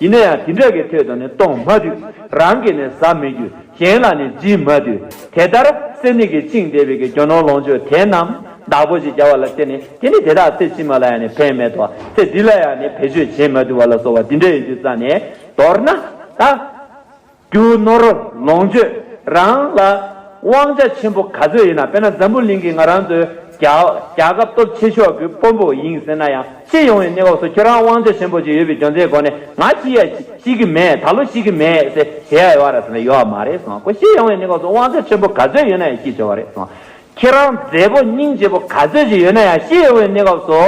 ཡིན་ན་ཡང་དེ་འདྲ་གི་ཐོས་དང་ནི་གཏོང་མ་དུས་རང་གིས་ནི་ཟ་མི་རྒྱུ་གཞན་ལ་ནི་སྦྱིན་མ་དུས་དེ་ལྟར་གསེར་ནི་གི་བཅིངས་བསྡེབས་པའི་གི་རྒྱུ་ནོར་ལོངས་སྤྱོད་དེ་རྣམས་བདག་པོ་ཞེས་བྱ་བ་ལ་སྟེ་ནི་དེ་ནི་དེ་དག་ཚེ་ཕྱི་མ་ལ་ཡང་ནི་ཕན་མེད་དོ་ཚེ་འདི་ལ་ཡང་ནི་བེད་སྤྱོད་བྱེད་མ་དུས་བ་ལ་སོགས་བ་འདི་འདྲ་ཡི་རྒྱུ་རྩ་ནས་མདོར་ན་ད། རྒྱུ་ནོར་ལོངས་སྤྱོད་རང་ལ་དབང་ཆ་ཆེན་པོ་ག་ཚོད་ཡིན་ན་དཔེར་ན་འཛམ་བུ་གླིང་གི་ང་རང་ཚོའི་རྒྱལ་ཁབ་སྟོབས་ཆེ་ཤོག་གི་དཔོན་པོ་ཡིན་ཟེར་ན་ཡང་སྤྱི་ཡོངས་ཡི་གནས་བབ་སོགས་ཁྱོད་རང་དབང་ཆ་ཆེན་པོ་ཅིག་ཡོད་པའི་རྒྱོ་འཛའི་སྒོ་ནས་ང་ཅི་ཡ་ཅི་གི་མེད་ད་ལོ་ཅི་གི་མེད་ཟེ་བྱེད་ཡ་ཡོད་རེད་ཟེར་ན་ཡོད་མ་རེད་སོང་ཀོ་སྤྱི་ཡོངས་ཡི་གནས་བབ་སོགས་དབང་ཆ་ཆེན་པོ་ག་ཚོད་ཡོད་ན་ཡང་སྐྱིད་ཆེ་བ་རེད་སོང་ཁྱེད་རང་མཛེས་པོ་སྙིང་རྗེ་པོ་ག་ཚོད་ཅིག་ཡོད་ན་ཡང་ཤི་ཡོད་པའི་གནས་སྐབས་སུ་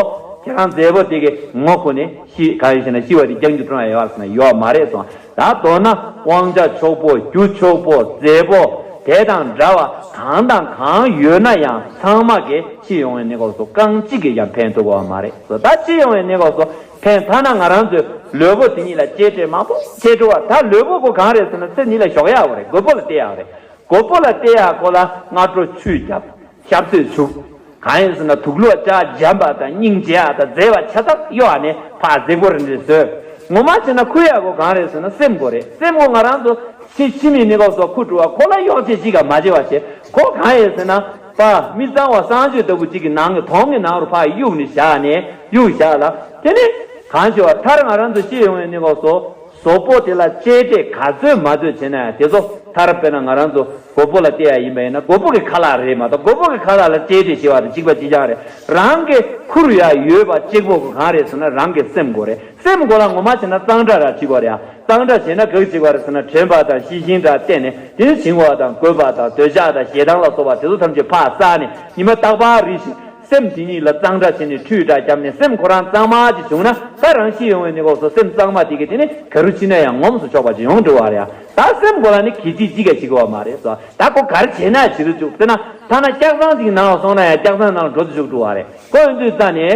ཁྱེད་རང་མཛེས་པོ་དེ་གི་ངོ་ཁུ་ནས་ཤི་ག་ཡོད་ཤེ་ན་ཤི་བ་དེ་རྒྱང་རྒྱུ་ཁྲོན་ཡ་ཡོད་ཟེར་ན་ཡོད་མ་རེད་སོང་ད་དོ་ན་དབང་ཆ་ཆོག་པོ་རྒྱུ་མཆོག་པོ་མཛེས་པོ་དེ་དང་འདྲ་བ་གང་དང་གང་ཡོད་ན་ཡང་ཚང་མ་གི་ཤི་ཡོང་བའི་གནས་སྐབས་སུ་རྐང་གཅིག་གིས་ཀྱང་ཕན་ཐུབ་པ་བ་མ་རེད་སོ་ད་ཤི་ཡོང་བའི་གནས་སྐབས་སུ་ཕན་ཐ་ན་ང་རང་ཚོའི་ལུས་པོ་དེ་ཉིད་ལ་གཅེས་སྤྲས་མང་པོ་བྱས་འགྲོ་བ་ད་ལུས་པོ་དགོས་གང་རེད་ཟེར་ན་ཚེ་འདི་ལ་ཞོགས་ཡག་པོ་རེད་དགོས་པོ་ལ་བལྟས་ཡག་རེད་མགོ་བོ་ལ་བལྟས་ཡག་གོ་ལ་སྔ་དྲོ་ཆུ་བརྒྱབ། ཞབས་སོས་བྱུག། གང་ཡིན་ཟེར་ན་དུག་ལོག་ལྕགས་འཇམ་པ་དང་སྙིང་རྗེ་ཡག་དང་མཛེས་བ་ཆ་ཚང་གཡོ་བ་ནས་ཕག་གཟེ་མགོ་རེ་འདྲེ་ཟོས། ངོ་མ་བྱས་ན་ཁུར་ཡག་གོ་གང་རེད་ཟེར་ན་སེམས་མགོ་རེད་སེམས་མགོ་ང་རང་ཚོ་ཕྱི་ཕྱི་མིག་ནི་ལོག་སོགས་ཁུར་བྲོ་བ་ཁོ་ལ་གཡོག་བྱེད་ཅིག་ག་མ་བྱེད་བ་བྱེད་གོ་གང་ཡིན་ཟེར་ན། པ་མི་གཙང་བ་གསང་སྤྱོད་ལྟ་བུ་ཅིག་གི་ནང་གི་དོང་གི་ནང་རུ་ཕག་གི་དབྱུག་ནི་བཞག་ནས་དབྱུག་བཞག་ལ་དེ་ནི། གང་བྱེད་བ་མཐར་ང་རང་ཚོ་ཤི་ཡོང་བའི་ནི་ལོག་སོ། གྲོགས་པོ་དེ་ལ་གཅེས་སྤྲས་ག་ཚོད་མ་ཚོད་བྱས་ན་ཡང་དེ་ཚོ་ཐར་དཔེར་ན་ང་རང་ཚོ་རྒོད་པོ་ལ་བལྟས་ཡ་ཡིན་པ་ཡིན་ན་རྒོད་པོ་གི་ཁ་ལག་རེད་མ་གཏོགས་རྒོད་པོ་གི་ཁ་ལག་ལ་གཅེས་སྤྲས་བྱེད་པ་དང་གཅིག་པ་གཅིག་རྐྱང་རེད་རང་གི་ཁུར་ཡ་ཡོད་པ་གཅིག་པོ་གང་རེད་ཟེར་ན་རང་གི་སེམས་མགོ་རེད་སེམས་མགོ་ལ་ངོ་མ་བྱས་ན་གཙང་སྦྲ་ར་བྱེད་དགོས་རེད་གཙང་སྦྲ་བྱས་ན་གག་བྱེད་དགོས་རེད་ཟེར་ན་དྲན་པ་དང་ཤེས་བཞིན་འདྲ་བལྟས་ནས་དེ་ནི་བྱིང་བ་དང་རྒོད་པ་དང་འདོད་ཆགས་དང་ཞེ་སྡང་ལ་སོགས་པ་དེ་ཚོ་ཐམས་ཅད་ཕ་བསགས་ནས་ཉི་མ་རྟག་པར་རིད་བཞིན་སེམས་དེ་ཉིད་ལ་གཙང་སྦྲ་བྱས་ནས་ཁྲུས་དག་བརྒྱབ་ནས་སེམས་ཁོ་རང་གཙང་མ་གཅིག་བྱུང་ན་ད་རང་ཤི་ཡོང་བས་ནི་འོག་སོ་སེམས་གཙང་མ་དེ་གས་དེ་ནི་ག་རུ་ཕྱིན་ན་ཡང་ངོམས་སུ་ཆོག་པ་ཅིག་ཡོང་འགྲོ་བ་རེད་ཨ། ད་སེམས་ཁོ་རང་ནི་གས་ཅིག་ཅིག་གས་ཤི་དགོས་བ་མ་རེད་སོ་ད་ཁོ་ག་རུ་བྱས་ན་བྱེད་དུ་བཅུག་ཟེར་ན་ཐ་ན་སྐྱག་ཚང་ཅིག་ནང་ལ་སོང་ན་ཡང་སྐྱག་ཚང་ནང་ལ་འགྲོ་དུ་བཅུག་འགྲོ་བ་རེད་ཁོ་འོན་དུས་ཙང་ནི།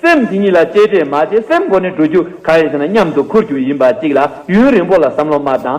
སེམས་དེ་ཉིད་ལ་གཅེས་སྤྲས་མ་བྱས་སེམས་ཁོ་ནི་འགྲོ་རྒྱུ་ག་རེ་བྱས་ན་མཉམ་དུ་འཁུར་རྒྱུ་ཡིན་པ་གཅིག་ལ་ཡུན་རིང་པོ་ལ་བསམ་བློ་མ་བཏང།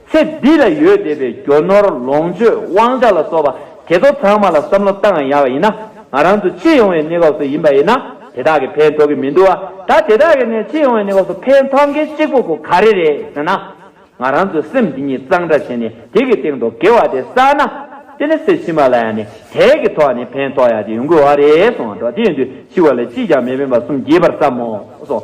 ཚེ་འདི་ལ་ཡོད་བསྡད་པའི་རྒྱོ་ནོར་ལོངས་སྤྱོད་དབང་ཆ་ལ་སོགས་པ་དེ་ཚོ་ཚང་མ་ལ་བསམ་བློ་བཏང་ཡག་ཡིན་ན་ང་རང་ཚོ་སྤྱི་ཡོངས་བའི་གནས་སྐབས་སུ་ཡིན་པ་ཡིན་ན་དེ་དག་གི་ཕན་ཐོག་གི་མི་འདུག་ཨ་ད་དེ་དག་གི་ནས་སྤྱི་ཡོངས་བའི་གནས་སྐབས་སུ་ཕན་ཐོག་མཁན་གཅིག་པོ་ཁོ་ག་རེ་རེད་ཟེར་ན། ང་རང་ཚོའི་སེམས་འདི་ཉིད་གཙང་སྦྲ་བྱས་ནས་དེ་གི་སྟེང་དུ་དགེ་བ་དེ་བསགས་ན། དེ་ནི་སེ་ཕྱི་མ་ལ་ཡ་ནས་དེ་གི་ཐོག་ནས་ཕན་ཐོག་ཡག་ཅིག་ཡོང་གི་འོ་རེད་སོང་ཨ་འགྲོ་དེ་ཡིན་དུས་ཤི་བ་ལས་ཅིས་ཀྱང་མི་ཕན་པ་གསུམ་གྱིས་པར་བསམ་མོ་སོང།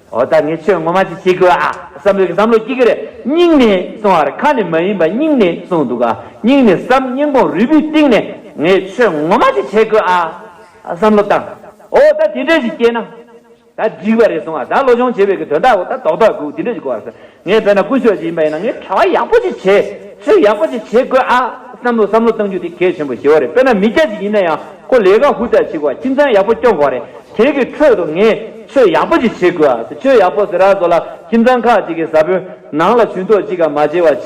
འོ་ད་ངས་ཆོས་ངོ་མ་ཅིག་བྱེད་དགོས་ཨ། བསམ་བློ་གིས་བསམ་བློ་སྐྱིད་ཀྱི་རེད་སྙིང་ནས་གསུང་བར་ཁ་ནས་མ་ཡིན་པ་སྙིང་ནས་གསུང་འདུག་ཨ་སྙིང་ནས་བསམ་སྙིང་བོང་རུས་པུས་གཏིང་ནས་ངས་ཆོས་ངོ་མ་ཅིག་བྱེད་དགོས་ཨ། བསམ་བློ་བཏང། འོ་ད་དེ་འདྲ་ཞིག་སྐྱེས་ན་ད་འགྲིག་པ་རེད་གསུང་ཨ་ད་བློ་སྦྱོང་བྱེད་པའི་གི་དོན་དག་གོ་ད་དོག་དག་གུ་དེ་འདྲ་ཞིག་གོ་ཨ། ངས་བོད་ནང་དཀོན་མཆོག་ཅིག་ཡིན་པ་ཡིན་ན་ངས་གྲྭ་བ་ཡག་པོ་ཅིག་བྱེད་ཚུལ་ཡག་པོ་ཅིག་བྱེད་དགོས་ཨ། བསམ་བློ་བསམ་བློ་བཏང་རྒྱུ་དེ་གལ་ཆེན་པོ་ཞེ་བོ་རེད་དཔེར་ན་མི་སྐྱ་ཅིག་ཡིན་ན་ཡང་ཁོ་ལས་ཀ་ཧུར་ཐག་བྱེད་དགོས་ཨ་ཁྱིམ་ཚང་ཡག་པོ་སྐྱོང་དགོས་རེད་དེ་གི་ཁྲོད་དུ་ངས་ཆོས་ཡག་པོ་ཅིག་བྱེད་དགོས་ཨ་ཟེར་ཆོས་ཡག་པོ་ཟེར་ར་ཟོ་ལ་ཁྱིམ་ཚང་ཁག་ཅིག་གི་བཟའ་ཕུན་ནང་ལ་ཇུས་འདོགས་ཅིག་ག་མ་བྱེད་བ་བྱེད་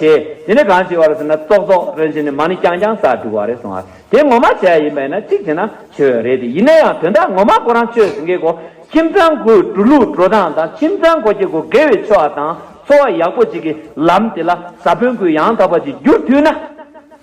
དེ་ནི་གང་བྱེད་བ་རེད་ཟེར་ན་ཙོག་ཙོག་རེད་བྱེད་ནི་མ་ནི་རྐྱང་རྐྱང་ཟ་འགྲོ་བ་རེད་སོང་ཨ། དེ་ངོ་མ་བྱས་ཡིན་པས་ན་གཅིག་བྱས་ན་བྱས་བས་རེད་དེ་ཡིན་ན་ཡང་དོན་དག་ངོ་མ་ཁོ་རང་ཆོས་ཟིན་གི་གོ་ཁྱིམ་ཚང་གུ་གྲུ་ལུག་འགྲོ་སྟངས་དང་ཁྱིམ་ཚང་གོ་ཁྱི་གོ་དགེ་བའི་ཆོས་བ་དང་འཚོ་བ་ཡག་པོ་བྱེད་གི་ལམ་དེ་ལ་ས་བོན་གུ་ཡང་དག་པ་ཅིག་བསྒྱུར་ཐུས་ན།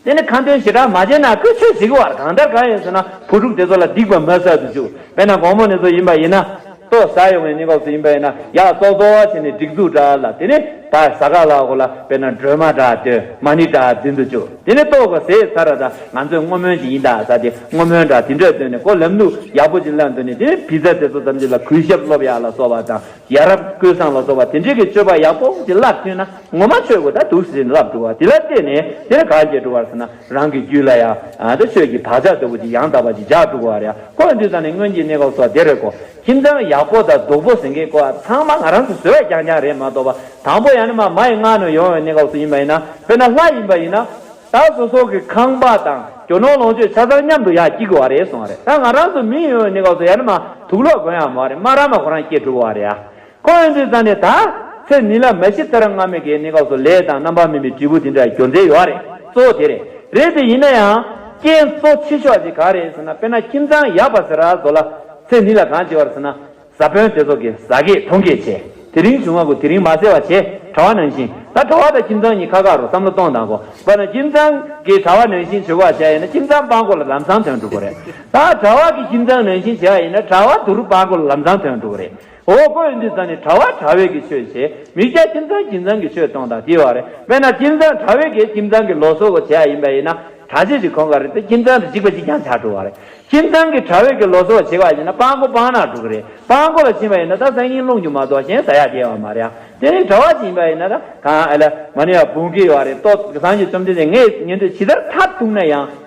དེ་ནི་ཁ་འདོན་ཞེ་དྲག་མ་བྱས་ན་གུ་ཆོས་བྱེད་གི་བར་གང་ལྟར་གང་ཡིན་ཟེར་ན་བུ་ཕྲུག་དེ་ཚོ་ལ་སྡིག་པ་མ་བསགས་དུ་ཆུག་བས་ན་དགོང་མོ་ནས་ཚོ་ཡིན་པ་ཡིན་ན། ཏོག་ཟ་ཡོང་བའི་གནས་སྐབས་སུ་ཡིན་པ་ཡིན་ན་ཡག་ཏོག་ཏོག་བྱས་ནས་སྒྲིག་འཛུགས་འདྲ་ལ་དེ་ནས་ད་ཟ་ག་ལ་གོ་ལ་དཔེར་ན་སྒྲོལ་མ་འདྲ་སྟོན་མ་ནི་འདྲ་འཛིན་དུ་བཅུག་དེ་ནས་ཏོག་གོ་ཟས་ཚར་ར་ད་ང་ཚོས་བསྔོ་སྨོན་ཅིག་ཡིན་ད་ཟ་དེ་བསྔོ་སྨོན་འདྲ་དེ་འདྲ་སྟོན་ནས་ཀོ་ལེམ་ལུགས་ཡག་པོ་ཅིག་བསླངས་དོན་ནི་དེ་ནས་བི་ཛ་དེ་ཚོ་ཙམ་གྱིས་ལ་གུས་ཞབས་སློབ་ཡག་ལ་སོགས་པ་དང་ཡ་རབས་ཀུན་བཟང་ལ་སོགས་པ་དེ་འདྲས་ཀྱི་སྤྱོད་པ་ཡག་པོ་ཅིག་བསླབས་ཐུན་ན། ངོ་མ་ཆོས་སྐུ་དང་དུག་སྲིན་རླབས་འགྲོ་བ་དེ་ལ་བརྟེན་ནས་དེར་གང་སྐྱེ་འགྲོ་བར་ས་ན་རང་གི་རྒྱུད་ལ་ཡང་དེ་ཆོས་ཀྱི་བག་ཆགས་ལྟ་བུ་དེ་ཡང་དག་པར་ཅི་བྱ་འགྲོ་བར་ཡང་ཁོ་འདུས་ཙང་ནས་སྔོན་གྱི་གནས་སྐབས་སོགས་དེར་གོ། ཁྱིམ་ཚང་ཡག་པོ་དང་སྡུག་པོ་ཟེར་མཁན་ཀོ་བ་ཚང་མ་ང་རང་ཚོ་བཟོས་པ་རྐྱང་རྐྱང་རེད་མ་གཏོགས་པ་དང་པོ་ཡང་ན་མ་མ་ཡི་སྔགས་ནས་ཡོང་བའི་གནས་སྐབས་སུ་ཡིན་པ་ཡིན་ན་དཔེར་ན་ལྷ་ཡིན་པ་ཡིན་ན། ད་གཟོད་སྲོག་གི་ཁང་པ་དང་གྱོ་ནོར་ལོངས་སྤྱོད་ཆ་ཚང་མཉམ་དུ་ཡང་སྐྱིད་དགོས་བ་རེད་སོང་བ་རེད་ད་ང་རང་ཚོ་མི་ཡིན་ཡོང་བའི་གནས་སྐབས་སུ་ཡང་ན་མ་དུག་ལོག་དགོན་ཡང་མ་རེད་མ་ར་མ་གོ་རང་སྐྱེ་འགྲོ་བ་རེད་ཡ་ཁོ་བོས་འདི་བཟང་ནས་ད། ཚེ་ནི་ལ་མ་ཤི་ཐར་སྔ་མོད་ཀྱི་གནས་སྐབས་སུ་ལས་དང་རྣམ་པར་སྨིན་པའི་དྲིལ་བུ་དེ་འདྲ་གྱོན་མཛད་ཡོད་རེད། གཙོ་བོ་དེ་རེད། རེད་དེ་ཡིན་ན་ཡང། རྐྱེན་གཙོ་ཆེ་ཤོས་ཀྱི་གང་རེད་ཟེར་ན་དཔེར་ན་ཁྱིམ་ཚང་ཡག་པ་ཟེར་ར་བཟོ་ལ། ཚེ་ནི་ལ་གང་བྱེད་བར་ཟེར་ན། བཟའ་དཔོན་དེ་ཚོ་གིས་ཟ་སྐད་འཐུང་སྐད་བྱེད། དེ་རིང་བྱུང་བ་གོ་དེ་རིང་མ་ཟེར་བ་བྱེད། གྲྭ་བ་ནང་བཞིན། ད་གྲྭ་བ་དང་ཁྱིམ་ཚང་གཉིས་ཁ་ཁ་རུ་བསམ་བློ་གཏོང་དང་གོ། བར་ན་ཁྱིམ་ཚང་གིས་གྲྭ་བ་ནང་བཞིན་བྱེད་པོ་བ་བྱ་ཡིན་ན་ཁྱིམ་ཚང་སྤང་གོ་ལ་ལམ་སང་དོན་འགྲུབ་པོ་རེད། ད་གྲྭ་བ་གིས་ཁྱིམ་ཚང་ནང་བཞིན་བྱེད་བ་ཡིན་ན་གྲྭ་བ་དུ་རུ་སྤང་གོ་ལ་ལམ་སང་དོན་འགྲུབ་པོ་རེད། འོ་སྐོལ་འདི་ཙམ་ནི་གྲྭ་བ་གྲྭ་བས་ཀྱི་ཆོས་བྱས། མིག་བྱ་ཁྱིམ་ཚང་ཁྱིམ་ཚང་གི་ཆོས་གཏོང་དང་དེ་བ་རེད། དཔེར་ན་ཁྱིམ་ཚང་གྲྭ་བས་ཀྱི་ཁྱིམ་ཚང་གི་ལོ་སོ་བོ་བྱས་ཡ་ཡིན་པ་ཡིན་ན། གྲྭ་ཆས་ཀྱི་གོང་ག་རེད་དེ་ཁྱིམ་ཚང་དུ་འཇིག་པ་གཅིག་ཀྱང་བྱ་འགྲོ་བ་རེད། ཁྱིམ་ཚང་གི་གྲྭ་བས་ཀྱི་ལོ་སོ་བོ་བྱས་བ་ཡིན་ན་སྤང་སྒོ་སྤང་ནག་འགྲོ་གི་རེད། སྤང་སྒོ་ལ་ཕྱིན་པ་ཡིན་ན་ད་སང་ཉིན་རླུང་རྒྱུ་མ་གཏོགས་གཞན་ཟ་ཡ་རྒྱས་བ་མ་རེད་ཨ། དེ་རིང་གྲྭ་བ་ཞིག་ཡིན་པ་ཡིན་ན་ད། གང་ཨ་ལ། མ་ནི་ཡ་བུང་གི་བ་རེད་ཏོ། སང་གི་རྩོམ་འདི་ནས་ངས་ཉན་འདོད་ཇི་ལྟར་མཐར་གཏུགས་ན་ཡང།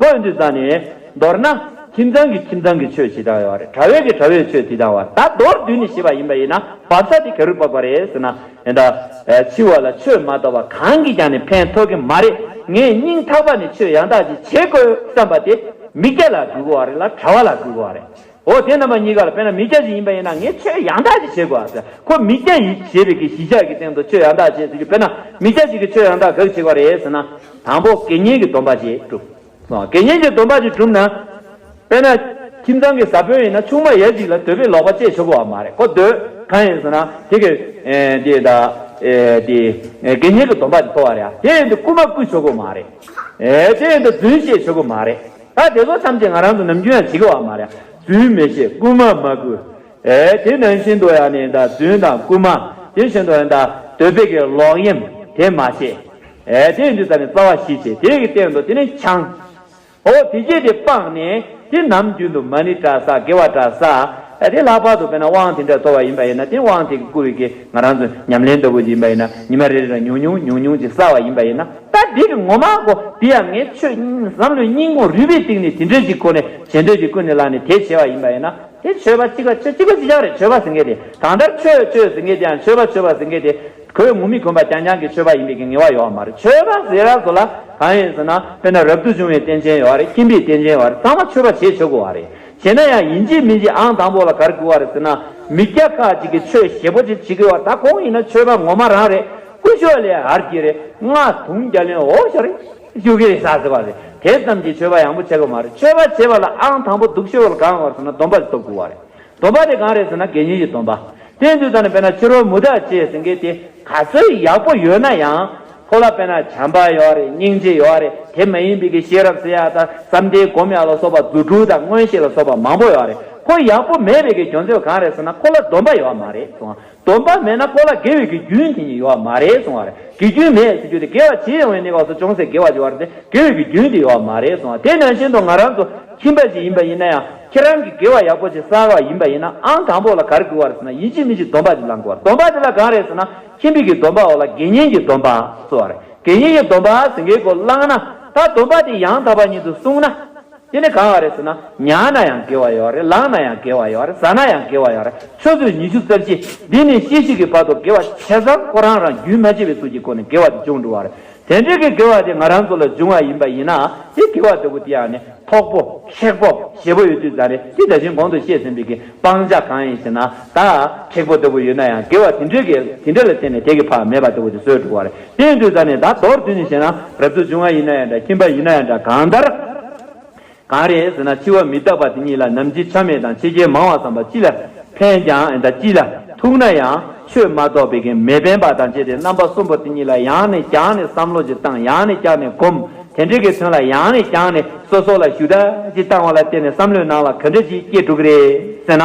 བོད་འདི་ཟ་ནས། མདོར་ན། ཁྱིམ་ཚང་གི་ཁྱིམ་ཚང་གི་ཆོས་ཇི་ལྟར་ཡོད་རེད་གྲྭ་བས་ཀྱི་གྲྭ་བས་ཆོས་དེ་ལྟར་བ་ད་མདོར་བསྡུས་ནས་བྱས་པ་ཡིན་པ་ཡིན་ན་བབ་ས་དེ་ག་རུ་བབ་པ་རེད་ཟེར་ན། ཨེ་ད། འཆི་བ་ལ་ཆོས་མ་གཏོགས་པ་གང་གིས་ཀྱང་ནི་ཕན་ཐོགས་ཀྱི་མ་རེད་ངས་སྙིང་ཐག་པ་ནས་ཆོས་ཡང་དག་ཅིག་བྱེད་དགོས་བསམ་པ་དེ། མིག་རྒྱ་ལ་གུས་དགོས་བ་རེད་ལ་གྲྭ་བ་ལ་གུས་དགོས་བ་རེད། འོ་དེ་རྣམ་པ་གཉིས་ཀ་ལ་དཔེར་ན་མི་སྐྱ་ཞིག་ཡིན་པ་ཡིན་ན་ངས་ཆོས་ཡང་དག་ཅིག་བྱེད་དགོས་པ་ཟད་ཁོ་མི་སྐྱ་ཡིན་ཞེས་པའི་གི་གཞི་ཆགས་ཀྱི་སྟེང་དུ་ཆོས་ཡང་དག་བྱེད་ཟེར་རྒྱུ་དཔེར་ན་མི་སྐྱ་ཞིག་གིས་ཆོས་ཡང་དག་ག་གི་བྱེད་དགོས་རེད་ཟེར་ན། དང་པོ་དགེ་བསྙེན་གྱི་སྡོམ་པ་ཞིག་བསྒྲུབ། དགེ་བསྙེན་གྱི་སྡོམ་པ་ཞིག་བསྒྲུབ་ན། དཔེར་ན། ཁྱིམ་ཚང་གི་བཟའ་དཔོན་ཡིན་ན་ཆུང་མ་ཡ་གཅིག་ལ་དོལ་པོའི་ལོག་པ་སྤྱད་ཆོག་གི་བ་མ་རེད་ཁོ་དོལ། གང་ཡིན་ཟེར་ན། དེ་གི། འདི་ད། དེ། དགེ་བསྙེན་གྱི་སྡོམ་པ་ཞིག་ཐོབ་བ་རེད་ཨ། དེ་ཡིན་དུ་རྐུན་མ་བརྐུས་ཆོག་གི་བ་མ་རེད། དེ་ཡིན་དུ་རྫུན་བཤད་ཆོག་གི་བ་མ་རེད། ད་དེ་ཚོ་ཐམས་ཅད་ང་རང་དུ་ནམ་རྒྱུན་ཡང་ཇི་དགའ་བ་མ་རེད་རྫུན་མི་བཤད་རྐུན་མ་མ་རྐུ། ཨེ་དེ་ནང་བཞིན་དུ་ཡང་ནི་ད་རྫུན་དང་རྐུན་མ་དེ་བཞིན་དུ་ཡང་ད་དོལ་པའི་གི་ལོག་གཡེམ་དེ་མ་བྱེད། ཨེ་དེ་འདི་ད་ནི་རྩ་བ་བཞི་བྱེད་དེ་གི་སྟེང་དུ་དེ་ནི་འཆང། ཨོ་དེ་སྐྱེས་དེ་སྤངས་ནས་དེ་ནམ་རྒྱུན་དུ་མ་ནི་བཀྲ་ས་དགེ་བ་བཀྲ་ས། ཨ་དེ་ལྷག་པར་དུ་དཔེར་ན་དབང་དེ་འདྲ་སྟོར་བ་ཡིན་པ་ཡིན་ན་དེ་དབང་དེ་གི་བསྐུར་བའི་གེགས་ང་རང་ཚོ་ཉམས་ལེན་ལྟ་བུ་ཞིག་ཡིན་པ་ཡིན་ན་ཉི་མ་རེ་རེ་ལ་ཉུང་ཉུང་ཉུང་ཉུང་ཅིག་བསགས་བ་ཡིན་པ་ཡིན་ན་ད་དེ་གི་ངོ་མ་གོ་དེ་ཡང་ངའི་ཆོས་བསམ་བློའི་སྙིང་བོ་རུས་པའི་གཏིང་ནས་དེ་འདྲའི་ཅིག་ཁོ་ནས་བྱེད་འདོད་ཅིག་ཀུན་ནས་བསླངས་ནས་དེ་བྱས་བ་ཡིན་པ་ཡིན་ན་དེ་ཆོས་པ་གཅིག་པ་ཆོས་གཅིག་པ་ཅི་ཅག་རེད་ཆོས་པ་ཟེར་མཁན་དེ་གང་ལྟར་ཆོས་སྤྱོད་ཟེར་མཁན་དེ་ཡང་ཆོས་པ་ཆོས་པ་ཟེར་མཁན་དེ་གོས་ངུར་མིག་གོན་པ་རྐྱང་རྐྱང་གི་ཆོས་པ་ཡིན་པའི་གི་ངེས་བ་ཡོད་བ་མ་རེད་ཆོས་པ་ཟེར་བ་ཚོ་ལ་གང་ཡོད་ཟེར་ན་དཔེར་ན་རབ་ཏུ་བྱུང་བའི་རྟེན་ཅན་ཡོད་བ་རེད་ཁྱིམ་པའི་རྟེན་ཅན་ཡོད་བ་རེད་ཚང་མ་ཆོས་པ་བྱེད་ཆོག་གི་བ་རེད། བྱས་ན་ཡང་ཡིན་གྱི་མིན་གྱི་ཨང་དང་པོ་ལ་གར་དགོས་བ་རེད་ཟེར་ན་མི་སྐྱ་ཁག་ཅིག་གིས་ཆོས་ཞེ་པོ་ཅིག་བྱེད་དགོས་བ་ད་ཁོང་ཡིན་ན་ཆོས་པ་ངོ་མ་རང་རེད་དཀོན་མཆོག་ལས་ཧར་གྱི་རེད་ང་དུང་རྒྱ་ལོན་འོ་ཤ་རེད་ཤུ་གི་རེད་ཟ་ཟེར་བ་རེད་དེ་ཙམ་གྱིས་ཆོས་པ་ཡང་པོ་བྱེད་དགོས་མ་རེད་ཆོས་པ་བྱེད་པ་ལ་ཨང་དང་པོ་སྡུག་ཤོས་བ་གང་བ་ཟེར་ན་སྡོམ་པ་ཞིག་ཐོབ་དགོས་བ་རེད་སྡོམ་པ་དེ་གང་རེད་ཟེར་ན་དགེ་བསྙེན་གྱི་སྡོམ་པ་དེ་འདུག་ད་ནི་དཔེར་ན་ཕྱི་རོལ་མུ་དག་བྱས་ཟེར་མཁན་དེ་ག་ཚོད་ཡག་པོ་ཡོད་ན་ཡང་ཁོ་ལ་དཔེར་ན་བྱམས་པ་ཡོད་རེད་སྙིང་རྗེ་ཡོད་རེད་དེ་མ་ཡིན་པའི་གི་ཤེས་རབ་ཟེར་ཡག་དང་བསམ་གཏན་སྒོམ་ཡག་ལ་སོགས་པ་རྫུ་འཕྲུལ་དང་མངོན་ཤེས་ལ་སོགས་པ་མང་པོ་ཡོད་རེད་ཁོ་ཡག་པོ་མེད་པའི་གི་གྱོང་ཚོད་གང་རེད་ཟེར་ན་ཁོ་ལ་སྡོམ་པ་ཡོད་མ་རེད་གསུང་བ་སྡོམ་པ་མེད་ན་ཁོ་ལ་དགེ་བའི་གི་རྒྱུན་དེ་ཉིད་ཡོད་མ་རེད་གསུང་བ་རེད་གི་རྒྱུན་མེད་ཟེར་རྒྱུ་དེ་དགེ་བ་བྱེད་ཡོང་བའི་གནས་སྐབས་སུ་ཅུང་ཟད་དགེ་བ་བྱེད་བར་དེ་དགེ་བའི་གི་རྒྱུན་དེ་ཡོད་མ་རེད་གསུང་བ་དེ་ནང་བཞིན་དུ་ང་རང་ཚོ་ཁྱིམ་པ་ཞིག་ཡིན་པ་ཡིན་ན་ཡང་ཁྱེད་རང་གིས་དགེ་བ་ཡག་པོ་བྱེད་བསམ་བ་ཡིན་པ་ཡིན་ན་ཨང་དང་པོ་ལ་ག་རེ་དགོས་བ་རེད་ཟེར་ན་ཡིད་ཆེས་མི་ཆེས་སྡོམ་པ་དེ་བླང་དགོས་བ་རེད་སྡོམ་པ་དེ་ལ་གང་རེད་ཟེར་ན་ཁྱིམ་མིག་གི་སྡོམ་པའོ་ལ་དགེ་བསྙེན་གྱི་སྡོམ་པའང་གསོལ་བ་རེད། དགེ་བསྙེན་གྱི་སྡོམ་པ་ཟིན་གྱི་སྒོ་བླངས་ན་ད་སྡོམ་པ་དེ་ཡང་དག་པ་ཉིད་དུ་གསུངས་ན། དེ་ནི་གང་བ་རེད་ཟེར་ན་མྱང་ན་ཡང་དགེ་བ་ཡོད་རེད་ལངས་ན་ཡང་དགེ་བ་ཡོད་རེད་བཟའ་ན་ཡང་དགེ་བ་ཡོད་རེད་ཆུ་ཚོད་ཉི་ཤུ་རྩ་བཞི་འདི་ནས་ཅི་ཞིག་གི་བར་དུ་དགེ་བ་བྱས་ཙང་ཁོ་རང་རང་རྒྱུན་མ་ཆད་པའི་ཚུལ་གྱི་སྒོ་ནས་དགེ་བ་དེ་ཅུང་འགྲུབ་བ་རེད། དེ་འབྲེལ་གྱི་དགེ་བ་དེ་ང་རང་ཚོ་ལ་འབྱུང་བ་ཡིན་པ་ཡིན་ནའང་དེ་དགེ་བ་ལྟ་བུ་དེའང་ནི་ཐོག་པོ། ཁེགས་པོ། ཞེ་པོ་ཡོད་དུས་ཙང་རེད་དེ་ད་བཞིན་གོང་དུ་བཤད་ཟིན་པའི་གི་སྤང་བྱ་གང་ཡིན་ཞེ་ན་ད། ཁེགས་པོ་ལྟ་བུ་ཡོད་ན་ཡང་དགེ་བ་དེ་འབྲེལ་གྱི་དེ་འབྲེལ་ལ་བརྟེན་ནས་དེ་གི་བག་མེད་པ་ལྟ་བུ་དེ་སོས་འགྲོ་བ་རེད་དེ་ཡིན་དུས་ཙང་ནི་ད་མདོར་བསྡུས་ནས་བཤད་ན་རབ་ཏུ་འབྱུང་བ་ཡིན་ན་ཡང་འདྲ་ཁྱིམ་པ་ཡིན་ན་ཡང་འདྲ་གང་ལྟར། གང་རེད་ཟེར་ན་འཆི་བ་མི་རྟག་པ་དེ་ཉིད་ལ་ནམ་འཆི་ཆ་མེད་དང་འཆི་རྐྱེན་མང་བ་བསམ་པ་ཅི་ལ་ཕན་ཀྱང་ཨེ་འདྲ་ཅི་ལ་ཐུག་ན་ཡང་ཆོས་མ་རྟོགས་པའི་གན་མེད་ཕན་པ་དང་བཅས་ཏེ་རྣམ་པ་གསུམ་པོ་དེ་ཉིད་ལ་ཡང་ནས་ཀྱང་ནས་བསམ་བློ་ཅི་བཏང་ཡང་ནས་ཀྱང་ནས་གོམས་དེ་འབྲེལ་གྱི་དོན་ལ་ཡང་ནས་ཀྱང་ནས་སོ་སོ་ལ་ཞུ་དག་ཅི་བཏང་བ་ལ་བརྟེན་ནས་བསམ་བློའི་ནང་ལ་ག་འདྲ་ཅིག་སྐྱེ་འགྲོ་གི་རེད་ཟེར་ན།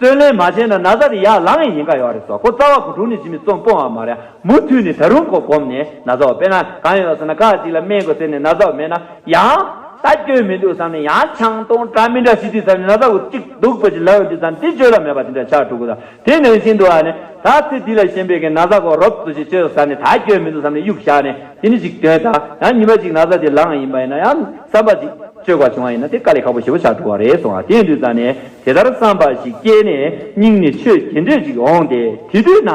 བརྩོན་ལེན་མ་བྱས་ན་ན་བཟའ་དེ་ཡར་ལངས་ཡས་ཡིན་ག་ཡོད་རེད་ཟོ་ཁོ་རྩ་བ་གོ་དྲུང་ནས་ཇི་མི་རྩོམ་སྤོང་བ་མ་རེད་མུ་མཐུད་ནས་ད་རུང་ཁོ་གོམས་ནས་ན་བཟའ་བ་དཔེ་ན་གང་ཡོད་ཟེར་ན་ཁག་ཅིག་ལ་སྨན་དགོས་ཟེར་ནས་ན་བཟའ་བ་མེད་ན་ཡང་ད་སྐྱོན་མི་འདུག་བསམ་ནས་ཡང་ཆང་སྟོང་གྲ་མི་འདྲ་ཞིག་བྲིས་ཟ་ནས་ན་བཟའ་བ་གཅིག་སྡུག་པོ་ཅིག་ལབ་ཡོང་དུས་ད་འདི་བཅོས་ལ་མེད་པ་དེ་འདྲ་ཆགས་འགྲོ་གི་ར་དེ་ནང་བཞིན་དུ་ཨ་ནི་ད་ཚེ་འདི་ལ་ཞེན་པའི་གན་ན་བཟའ་བ་རོབ་ཙོ་ཞིག་བཅོས་ཟ་ནས་ད་སྐྱོན་མི་འདུག་བསམ་ནས་གཡུག་བཞག་ནས་དེ་ནི་ཅིག་དོན་དང་ཡང་ཉི་མ་ཅིག་ན་བཟའ་དེ་ལངས་ཡིན་པ་ཡིན་ན་ཡང་བསམ་པ་ཅིག་བཅོས་པ་བྱུང་བ་ཡིན་ན་དེ་དཀའ་ལས་ཁག་པོ་ཞེ་པོ་ཆགས་འགྲོ་བ་རེད་སོང་ང་དེ་འདུས་ཟ་ནས། དེ་ལྟར་བསམ་པ་ཞིག་སྐྱེས་ནས་སྙིང་ནས་ཆོས་དེ་འདོད་ཅིག་འོང་སྟེ་དེ་དུས་ན།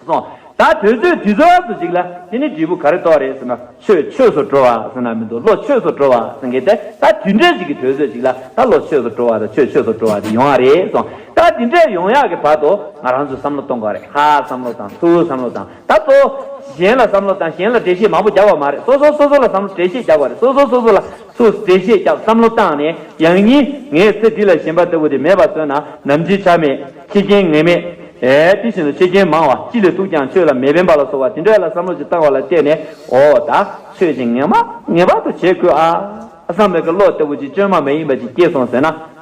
སོང། ད་དོལ་ཚོད་དུས་ཚོད་དུ་ཅིག་ལ་དེ་ནི་འབྲས་བུ་ག་རེ་གཏོགས་རེད་ཟེར་ན་ཆོས་ཆོས་སུ་འགྲོ་བ་ཟེར་ན་མི་འདུག་བློ་ཆོས་སུ་འགྲོ་བ་ཟེར་གི་དེ་ད་དུས་འདྲས་ཅིག་གི་དོལ་ཚོད་ཅིག་ལ་ད་བློ་ཆོས་སུ་འགྲོ་བ་དང་ཆོས་ཆོས་སུ་འགྲོ་བ་དེ་ཡོང་ཡ་རེད་སོང། ད་དེ་འདྲས་ཡོང་ཡ་གི་བར་དུ་ང་རང་ཚོས་བསམ་བློ་གཏོང་དགོས་རེད་ཧ་བསམ་བློ་དང་ཚུར་བསམ་བློ་དང་ད་གཙོ་བོ། གཞན་ལ་བསམ་བློ་དང་གཞན་ལ་འགྲེལ་བཤད་མང་པོ་རྒྱག་པ་མ་རེད་སོ་སོ་སོ་སོ་ལ་བསམ་བློ་འགྲེལ་བཤད་རྒྱག་པ་རེད་སོ་སོ་སོ་སོ་ལ་སོ་སོས་འགྲེལ་བཤད་རྒྱག་བསམ་བློ་བཏང་ནས་ཡང་སྙིང་ངས་ཚེ་འདི་ལ་ཞེན་པ་ལྟ་བུ་དེ་མེད་པར་བཟོས་ན་ནམ་འཆི་ཆ་མེད་འཆི་རྐྱེན་ངེས་མེད། དེ་བཞིན་དུ་འཆི་རྐྱེན་མང་བ་ཅི་ལས་ཐུག་ཀྱང་ཆོས་ལ་མི་ཕན་པ་ལ་སོགས་པ་དེ་འདྲ་ལ་བསམ་བློ་ཅིག་བཏང་བ་ལ་བལྟས་ནས་ཨོ་ད་ཆོས་ཀྱི་ངེས་མ་ངེས་པར་དུ་བྱེད་དགོས་ཨ། བསམ་པའི་ཀློག་ལྟ་བུ་ཅིག་བཅོས་མ་མ་ཡིན་པ་ཅིག་སྐྱེས་སོང་ཟེར་ན།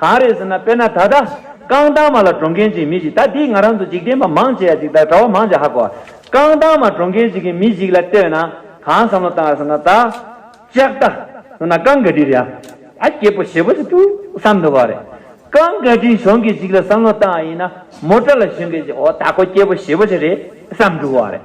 གང་རེད་ཟེར་ན་དཔེར་ན་ད་ལྟ། རྐང་ཐང་མ་ལ་འགྲོ་མཁན་ཅིག་མི་ཞིག་ད་འདིས་ང་རང་ཚོ་འཇིག་རྟེན་པ་མང་ཆེ་ཡ་ཅིག་ལྟར་གྲྭ་བ་མང་ཆེ་ཧ་གོ། རྐང་ཐང་མ་འགྲོ་མཁན་ཅིག་གིས་མི་ཞིག་ལ་ལྟོས་ན། གང་བསམ་བློ་བཏང་ཡོད་ཟེར་ན་ད། ལྕགས་རྟ། ཟེར་ན་རྐང་འགའ་འདྲིར་ཡ། ཨ་སྐྱེས་པོ་ཞེད་པོ་ཞིག་ཏུ་བསམ་འདོད་པ་རེད། རྐང་འགའ་འདྲིའི་གཞོན་སྐྱེས་ཞིག་ལ་བསམ་བློ་བཏང་ཡ་ཡིན་ན། མོ་ཏྲ་ལ་གཞོན་སྐྱེས་ཞིག་ཨོ་ད་ཁོ་སྐྱེས་པོ་ཞེད་པོ་ཞིག་རེད་བསམ་འགྲོ་བ་རེད།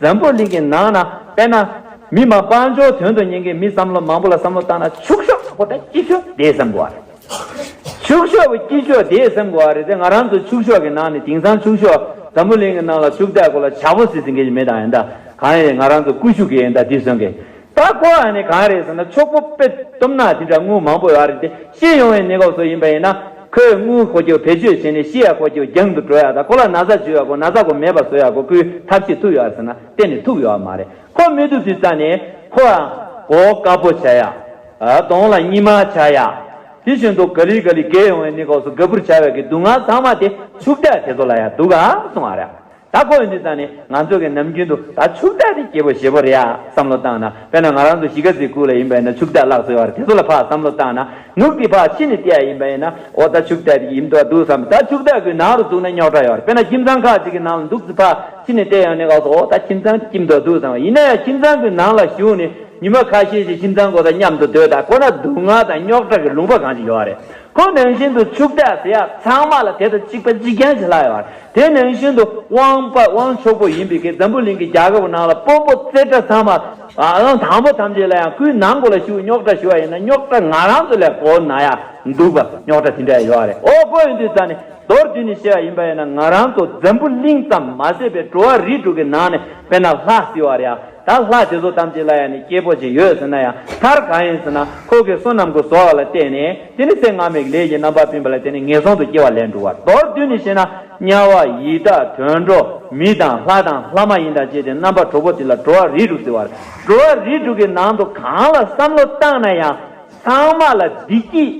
འཛམ་བུ་གླིང་གི་ནང་ན་དཔེར་ན། མི་མང་དཔའ་འབྱོར་དོན་དུ་གཉེར་མཁན་མི་བསམ་བློ་མང་པོ་ལ་བསམ་བློ་བཏང་ན་ཕྱུག་ཤོག་ཁོ་ད་སྐྱིད་ཤོག་དེས་སེམས་གོ་བ་རེད། ཕྱུག་ཤོག་བུ་སྐྱིད་ཤོག་དེས་སེམས་གོ་བ་རེད་དེ་ང་རང་ཚོ་ཕྱུག་ཤོག་གི་ནང་ནས་དེང་སང་ཕྱུག་ཤོག་འཛམ་བུ་གླིང་གི་ནང་ལ་ཕྱུག་བདག་གོ་ལ་བྱ་ཕོ་ཟེར་ཟིན་མཁན་ཞིག་མེད་དང་ཡིན་ད་གང་ཡིན་རེད་ང་རང་ཚོ་ཀུ་ཤུ་གི་ཡིན་ད་དེ་སོན་གི་ད་གོ་བ་ནི་གང་རེད་ཟེར་ན་ཕྱུག་པོ་དཔེ་དུམ་ནག་དེ་འདྲ་དངུལ་མང་པོ་ཡོད་རེད་དེ་ཤི་ཡོང་བའི་གནས་སྐབས་སུ་ཡིན་པ་ཡིན་ན་ཁོས་དངུལ་ཁོ་ཁྱོད་བེད་སྤྱོད་བྱས་ནས་ཤི་ཡ་ཁོ་ཁྱོད་རྒྱང་དུ་བྲོས་ཡ་དང་ཁོ་ལ་ན་བཟའ་བྱོས་ཡ་དགོ་ན་བཟའ་དགོ་མེད་པ་བཟོས་ཡ་དགོ་ཁོའི་ཐབས་ཤེས་ཐུག་ཡོད་ཟེར་ན་གཏན་ནས་ཐུག་ཡོད་མ་རེད་ཁོ་མི་ཐུག་དུས་རྩ་ནས་ཁོ་ཡང་གོ་དཀའ་པོ་བྱ་ཡ། གདོང་ལ་གཉིད་མ་བྱ་ཡ། དེ་བཞིན་དུ་ག་ལི་ག་ལི་བརྒལ་ཡོང་བའི་གནས་སྐབས་སུ་ག་བུར་བྱ་བའི་གི་སྡུག་བསྔལ་ཚང་མ་དེ་ཕྱུག་བདག་དེ་ཚོ་ལ་ཡང་འདུག་ག་སོང་བ་རེད་ད་ཁོ་འོན་ཏེ་ད་ནི་ང་ཚོ་གི་ནམ་རྒྱུན་དུ་ད་ཕྱུག་བདག་དེ་སྐྱེ་བོ་ཞེ་པོ་རེད་ཨ་བསམ་བློ་བཏང་ན་དཔེར་ན་ང་རང་ཚོ་གཞིས་ཀ་རྩེའི་ཁུལ་ལ་ཡིན་པ་ཡིན་ན་ཕྱུག་བདག་ལག་ཟེར་བ་རེད་དེ་ཚོ་ལ་ཕ་བསམ་བློ་བཏང་ན་ནུབ་ཀྱི་ཕ་ཕྱི་ནས་བལྟས་ཡ་ཡིན་པ་ཡིན་ན་འོ་ད་ཕྱུག་བདག་དེ་ཡིན་དུ་བ་འདུག་བསམ་ད་ཕྱུག་བདག་གི་ནང་རུ་བཅུག་ན་རྙོག་དྲ་ཡོད་རེད་དཔེར་ན་ཁྱིམ་ཚང་ཁག་ཅིག་གི་ནང་ལ་འདུག་ཚེ་ཕ་ཕྱི་ནས་བལྟས་ཡོང་ནས་ག་ཟེ་འོ་ད་ཁྱིམ་ཚང་དེ་སྐྱིམ་དུ་བ་འདུག་བསམ་ཡིན་ན་ཡང་ཁྱིམ་ཚང་གི་ནང་ལ་ཞུགས་ནས་ཉི་མ་ཁ་ཤས་ཤིག་ཁྱིམ་ཚང་གོ་ད་མཉམ་དུ་སྡོད་ད་ཁོ་ན་སྡུག་བསྔལ་དང་རྙོག་དྲ་གི་ལུང་པ་གང་ཅི་ཡོད་རེད་ཁོ་ནང་བཞིན་དུ་ཕྱུག་བདག་ཟེར་ཡ་ཚང་མ་ལ་དེ་ད་གཅིག་པ་གཅིག་རྐྱང་བྱེད་ལ་ཡོད་རེད། དེ་ནི་ཤིན་ཏུ་དབང་པ་དབང་ཆོག་པོ་ཡིན་པས་ཀྱེ་འཛམ་བུའི་གླིང་གི་རྒྱལ་ཁབ་ནང་ལ་སྤོ་སྤོ་རྩེ་གྲ་ཚང་མ་དང་དང་པོ་ཐམས་ཅད་ལ་ཡང་སྐུའི་ནང་སྒོ་ལ་ཤི་བོའི་རྙོག་གྲ་ཞུ་བ་ཡིན་ན་རྙོག་གྲ་ང་རང་ཚོ་ལས་གོ་ན་ཡང་འདུག་པ་རྙོག་གྲ་དེ་འདྲ་ཡང་ཡོད་རེད་ཨོ་སྤོ་ཡོང་དུས་ཙང་ནས་མདོར་བསྡུས་ནས་བཤད་པ་ཡིན་པ་ཡིན་ན་ང་རང་ཚོ་འཛམ་བུ་གླིང་ཙམ་མ་ཟད་པའི་འགྲོ་བ་རིས་དྲུག་གི་ནང་ནས་དཔེར་ན་ལྷ་བསིལ་བ་རེའང་ད་ལྷ་དེ་ཚོ་ཐམས་ཅད་ལ་ཡང་ནི་སྐྱེ་བོ་ཅིག་ཡོད་ཟེར་ན་ཡང་མཐར་གང་ཡིན་ཟེར་ན་ཁོ་གི་བསོད་ནམས་ཀུན་བཟོ་བ་ལ་བལྟས་ནས་དེ་ནི་ཚེ་སྔ་མའི་ལས་ཀྱི་རྣམ་པར་སྤིན་པ་ལ་བརྟེན་ནས་ངན་སོང་དུ་སྐྱེ་བ་ལས་འགྲོ་བ་མདོར་བསྡུས་ནས་བཤད་ན་དམྱལ་བ་ཡི་དྭགས་དུད་འགྲོ་མི་དང་ལྷ་དང་ལྷ་མ་ཡིན་དང་བཅས་ཏེ་རྣམ་པ་དྲུག་པོ་དེ་ལ་འགྲོ་བ་རིས་དྲུག་ཟེར་བར་འགྲོ་བ་རིས་དྲུག་གི་ནང་དུ་གང་ལ་བསམ་བློ་བཏང་ན་ཡང་ཚང་མ་ལ་བདེ་སྐྱིད་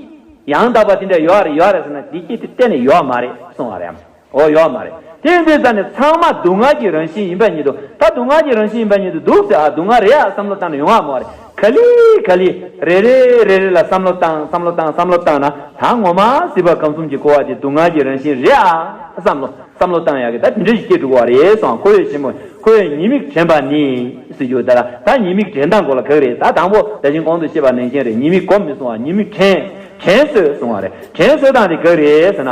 ཡང་དག་པ་དེ་འདྲ་ཡོད་རེད་ཡོད་རེད་ཟེར་ན་བདེ་སྐྱིད་དེ་གཏན་ནས་ཡོད་མ་རེད་གསུང་བ་རེད། འོ་ཡོད་མ་རེད་དེ་འདི་ཟེར་ནས་ཚང་མ་སྡུག་བསྔལ་གྱི་རང་བཞིན་ཡིན་པ་ཉིད་དུ་ད་སྡུག་བསྔལ་གྱི་རང་བཞིན་ཡིན་པ་ཉིད་དུ་འདུག་ཟེར་ཨ་སྡུག་བསྔལ་རེད་ཨ་བསམ་བློ་བཏང་ན་ཡོང་ཨ་མོ་རེད་ག་ལི་ག་ལི་རེ་རེ་རེ་རེ་ལ་བསམ་བློ་བཏང་བསམ་བློ་བཏང་བསམ་བློ་བཏང་ན་ད་ངོ་མ་སྲིད་པ་གང་གསུམ་གྱི་འཁོར་བ་དེ་སྡུག་བསྔལ་གྱི་རང་བཞིན་རེད་ཨ་བསམ་བློ་བསམ་བློ་བཏང་ཡག་གི་ད་དེ་འདྲ་ཞིག་སྐྱེ་འགྲོ་གི་བ་རེད་སོང་ཁོ་བོས་བྱེད་མོད་ཁོ་བོས་ཉེས་དམིགས་དྲན་པ་ནི་སྲིད་རྒྱུ་ད་ད་ཉེས་དམིགས་དྲན་སྟངས་གོ་ལ་གག་རེད་ད་དང་པོ་ད་བཞིན་གོང་དུ་བཤད་པ་ནན་ཞིང་རེད་ཉེས་དམིགས་གོ་མི་སོང་བ་ཉེས་དམིགས་དྲན་དྲན་སོས་སོང་བ་རེད་དྲན་སོས་སྟངས་དེ་གག་རེད་ཟེར་ན།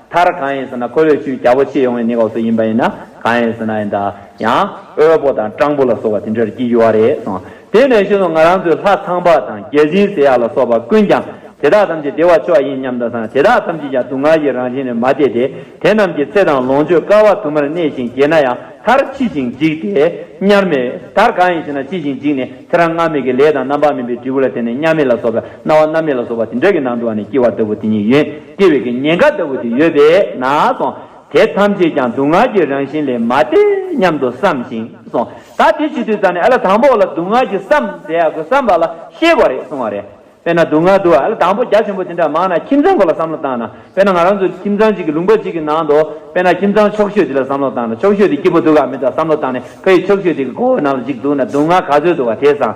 མཐར་གང་ཡིན་ཟེར་ན་ཁོ་བོས་ཆུའི་རྒྱ་པོ་ཕྱེས་ཡོང་བའི་ནི་གོག་སུ་ཡིན་པ་ཡིན་ན་གང་ཡིན་ཟེར་ན་ཡང་དབོལ་པོ་དང་སྤྲང་པོ་ལ་སོགས་པ་དེ་འདྲར་བགྱིད་རྒྱུ་བ་རེད་གསུངས། དེ་ནས་ཤུལ་དུ་ང་རང་ཚོའི་ལྷ་ཚངས་པ་དང་རྒྱལ་ཆེན་ཟེར་ཡག་ལ་སོགས་པ་ཀུན་ཀྱང་དེ་དག་ཐམས་ཅད་བདེ་བ་མཆོག་ཡིན་སྙམ་དུ་སངས་དེ་དག་ཐམས་ཅད་ཀྱང་སྡུག་བསྔལ་གྱི་རང་བཞིན་ལས་མ་འདས་ཏེ་དེ་རྣམས་ཀྱི་ཚེ་དང་ལོངས་སྤྱོད་དཀའ་བ་དུ་མར་གནས་ཤིང་རྒས་ན་ཡང་མཐར་འཆི་ཞིང་འཇིག་སྟེ་དམྱལ་མེ། མཐར་གང་ཡིན་ཟེར་ན་འཆི་ཞིང་འཇིག་ནས་ཚེ་རང་སྔར་མེད་ཀྱི་ལས་དང་རྣམ་པར་སྨིན་པའི་འབྲས་བུ་ལ་བརྟེན་ནས་དམྱལ་མེ་ལ་སོགས་པའི་སྣང་བ་རྣམ་མེད་ལ་སོགས་པ་དེ་འདྲ་གྱི་ནང་དུ་བ་ནས་སྐྱེ་བ་ལྟ་བུ་དེ་ཉིད་ཡིན། སྐྱེ་བའི་ཉེན་ཁ་ལྟ་བུ་དེ་ཡོད་པས་ན་སོ། དེ་ཐམས་ཅད་ཀྱང་སྡུག་བསྔལ་གྱི་རང་བཞིན་ལས་མ་འདས་སྙམ་དུ་བསམ་ཞིང་སོ། ད་དེ་ཇི་དུས་ཙམ་ནས་ཨ་ལ་དང་པོ་ལ་སྡུག་བསྔལ་གྱི་བསམ་གཟས་ཡག་གོ་བསམ་པ་ལ་ཤེས་པ་རེད་གསུང་བ་རེད། དཔེར་ན་སྡུག་བསྔལ་དུ་ཨ་ལ་དང་པོ་རྒྱ་ཆེན་པོ་དེ་འདྲ་མང་ན་ཁྱིམ་ཚང་གོ་ལ་བསམ་བློ་བཏང་ན་དཔེར་ན་ང་རང་ཚོ་ཁྱིམ་ཚང་གཅིག་གི་ལུང་པ་གཅིག་གི་ནང་དུ་དཔེར་ན་ཁྱིམ་ཚང་ཆོག་ཤོས་དེ་ལ་བསམ་བློ་བཏང་ན་ཆོག་ཤོས་དེ་སྐྱིད་པོ་འདུག་ག་མི་འདུག་བསམ་བློ་བཏང་ནས་ཕ་ཡི་ཆོག་ཤོས་དེ་གི་མགོ་བོའི་ནང་ལ་གཅིག་འདུག་ན་སྡུག་བསྔལ་ག་ཚོད་འདུག་ག་དེ་བཟང།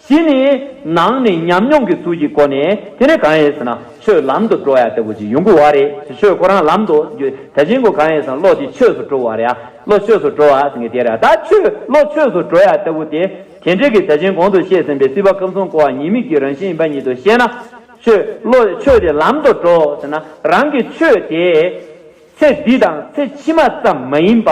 དེ་ནི་ནང་ནས་ཉམས་མྱོང་གི་གཟུགས་ཀྱི་སྒོ་ནས་དེ་ནི་གང་ཡིན་ཟེར་ན་ཆོས་ལམ་དུ་འགྲོ་ཡ་ལྟ་བུ་ཅིག་ཡོང་གི་བ་རེད་དེ་ཆོས་ཁོ་རང་ལམ་དུ་འགྱུར་ད་ཕྱིན་སྒོ་གང་ཡིན་ཟེར་ན་བློ་དེ་ཆོས་སུ་འགྲོ་བ་རེད་ཨ་བློ་ཆོས་སུ་འགྲོ་བ་ཟེར་མཁན་དེ་རེད་ད་ཆོས་བློ་ཆོས་སུ་འགྲོ་ཡ་ལྟ་བུ་དེ་དེ་འདྲས་ཀྱི་ད་ཕྱིན་གོང་དུ་བཤད་ཟིན་པའི་སྲིད་པ་སྐབས་གསུམ་སྐོར་བ་ཉིད་མིག་གི་རང་བཞིན་ཡིན་པ་ཉིད་དུ་བཤད་ན་ཆོས་བློ་ཆོས་དེ་ལམ་དུ་འགྲོ་ཟེར་ན་རང་གི་ཆོས་དེ་ཚེ་འདི་དང་ཚེ་ཕྱི་མ་ཙམ་མ་ཡིན་པ།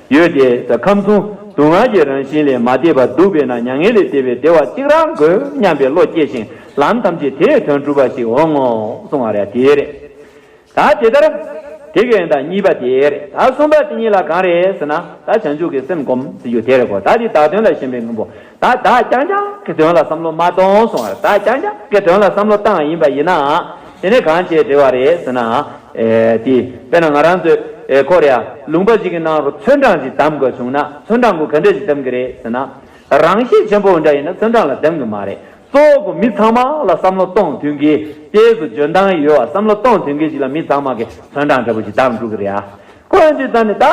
ཡོད་དེ། ཁམས་གསུམ་སྡུག་བསྔལ་གྱི་རང་བཞིན་ལས་མ་འདས་པ་སྡུག་པས་ན་མྱ་ངན་ལས་འདས་པའི་བདེ་བ་གཅིག་རང་དགོས་སྙམ་པའི་བློ་སྐྱེ་ཞིང་ལམ་ཐམས་ཅད་དེས་དོན་གྲུབ་པ་ཞིག་འོང་ངོ་གསུང་བ་རེད་དེ་རེད། ད་དེ་ལྟར། དེ་གའི་ད་གཉིས་པ་དེ་རེད་ད་གསུམ་པ་དེ་གཉིས་ལ་གང་རེད་ཟེར་ན་ད་བྱང་ཆུབ་ཀྱི་སེམས་སྒོམ་ཟེར་རྒྱུ་དེ་རེད་གོ་ད་འདི་བདག་དོན་ལ་ཞེན་པའི་དངོས་པོ་ད་བདག་ཀྱང་ཀྱང་གི་དོན་ལ་བསམ་བློ་མ་གཏོང་སོང་བར་བདག་ཀྱང་ཀྱང་གི་དོན་ལ་བསམ་བློ་བཏང་ཡིན་པ་ཡིན་ནའང་དེ་ནི་གང་བྱས་འབྲེལ་བ་རེད་ཟེར་ནའང་འེ། དཔེར་ན་ང་རང་ཚོས་ཁོ་རེ་ཨ་ལུང་པ་ཞིག་གི་ནང་རུ་ཚོན་གྲངས་ཞིག་གདམ་དགོས་བྱུང་ན་ཚོན་གྲངས་གུ་གེ་འདྲ་ཞིག་གདམ་གི་རེད་ཟེར་ན། རང་ཤེད་ཆེན་པོ་འོ་འདྲ་ཡིན་ན་ཚོན་གྲངས་ལ་གདམ་གི་མ་རེད་གཙོ་བོ་གུ་མི་ཚང་མ་ལ་བསམ་བློ་གཏོང་ཐུན་གྱི་ལྟས་སུ་འཇོན་ཐང་ཡོད་བ་བསམ་བློ་གཏོང་ཐུན་གྱི་ཞིག་ལ་མི་ཚང་མ་གི་ཚོན་གྲངས་འདྲ་པོ་ཞིག་གདམ་འགྲོ་གི་རེད་ཨ། འཁོར་འདི་དག་ནི་ད།